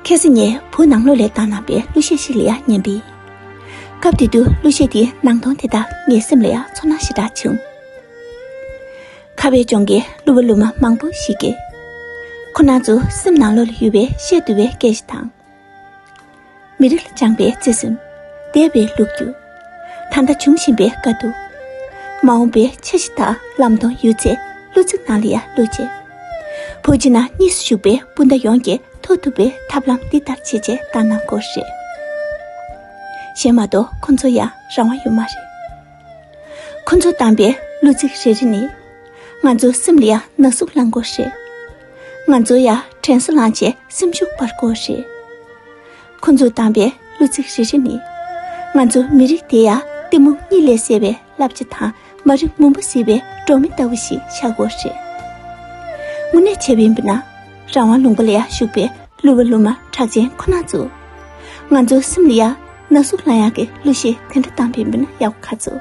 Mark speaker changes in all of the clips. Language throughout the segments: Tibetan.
Speaker 1: ཁེ་སི་ཉེ་བོ་ནང་ལོགས་ལས་སྟངས་རྣམ་པའི་གླུ་གཞས་ཤིག་ལ་ཡང་ཉན་པས། སྐབས་དེ་དུས་གླུ་གཞས་དེའི་སྣང་སྟོང་དེ་དག་ངའི་སེམས་ལ་ཡང་ཚོར་སྣང་ཞེ་དྲགས་བྱུང། ཁ་བའི་ལྗོངས་ཀྱི་གླུ་བ་གླུ་མ་མང་པོ་ཞིག་གིས་ཁོ་ན་ཚོའི་སེམས་ནང་ལོགས་ལ་ཡོད་པའི་གཞས་བསྡུ་བའི་སྐད་ཆ་དང། མི་རིགས་ལ་བཅངས་པའི་བརྩེ་སེམས་དད་པའི་ལུག་ཁྱུ། ད་ལྟ་འབྱུང་བཞིན་པའི་དཀའ་སྡུག། མ་འོངས་པའི་འཆར་གཞི་དག་ལམ་དང་ཡོད་ཚད་བློ་རྩེ་ནང་ལ་ཡར་བླུགས་རྗེས། བོད་ཕྱི་ནང་གཉིས་སུ་བཞུགས་པའི་སྤུན་ཟླ་ཡོངས་ཀྱིས་ཐོབ་ཐུབ་པའི་ཐབས་ལམ་འདི་ལྟར་བྱེད་ཅེས་བཏང་གནང་སྐོར་རེད། གཞན་མ་གཏོགས་ཁོ་ཚོ་ཡང་རང་དབང་ཡོད་མ་རེད། ཁོ་ཚོ་བཏང་པའི་གླུ་ཚིག་རེ་རེ་ནི་ང་ཚོའི་སེམས་ལ་ཡང་ན་ཟུག་བསླངས་སྐོར་རེད། ང་ཚོ་ཡང་དྲན་གསོ་ལངས་བྱེད་སེམས་ཤུགས་སྤར་སྒོ་རེད། ཁོ་ཚོས་བཏང་པའི་གླུ་ཚིག་རེ་རེ་ནི་ང་ཚོ་མི་རིགས་དེ་ཡ་གཏི་མུག་གཉིད་ལས་སད་པའི་བསླབ་བྱ་དང་མ་རིག་མུན་པ་བསིལ་བའི་སྒྲོན་མེ་ལྟ་བུ་ཞིག་ཆགས་སྒོ་རེད། དངོས་གནས་བྱ་བའི་འབུ་ནག་རང་དབང་ལུང་པ་ལ་ཡང་ཞུགས་པའི་གླུ་བ་གླུ་མ་གྲགས་ཅན་ཁོ་ན་ཚོ། ང་ཚོ་སེམས་ལ་ཡང་ན་ཟུག་སླ་ཡང་གི་གླུ་གཞས་དེ་འདྲ་བཏང་པའི་འབུ་ནག་ཡག་པོ་ཁ་ཚོ།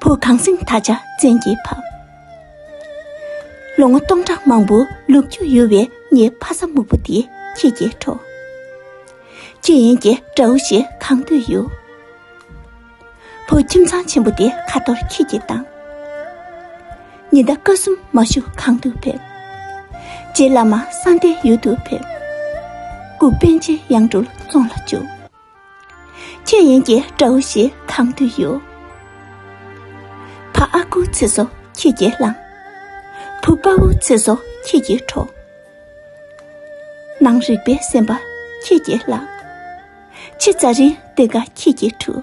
Speaker 1: བུ་གང་སྲིན་ད་ཆ་བཙན་གྱིས་ཕབ། ལོ་ངོ་སྟོང་ཕྲག་མང་པོ་ལུག་ཁྱུ་གཡོ་བའི་ངའི་ཕ་ས་སྨུག་པོ་འདི་ཁྱེད་ཀྱིས་འཕྲོག། ཁྱི་ཡན་གྱི་དགྲ་བོ་ཞིག་གང་འདོད་གཡོ། བུ་ཁྱིམ་ཚང་ཆེན་པོ་འདི་ཁ་ཐོར་ཁྱེད་ཀྱིས་བཏང། ཉི་ཟླ་སྐར་གསུམ་མ་ཞུ་གང་དུ་ཕེབས། རྗེ་བླ་མ་གསང་བདེའི་ཡུལ་དུ་ཕེབས། སྐུ་དཔོན་ཆེ་ཡང་འགྲུལ་བཙོང་ལ་བཅུག། ཁྱོད་ཡིན་གྱི་དགྲ་བོ་ཞིག་གང་དུ་ཡོད། ཕ་ཨ་ཁུ་ཚེ་སྲོག་ཁྱེད་ཀྱིས་བླངས། བུ་དཔའ་བོ་ཚེ་སྲོག་ཁྱེད་ཀྱིས་འཕྲོག། ནང་རིག་པའི་སེམས་པ་ཁྱེད་ཀྱིས་བརླག། ཕྱི་རྩ་རིན་དེ་འགའ་ཁྱེད་ཀྱིས་འཁྲུ།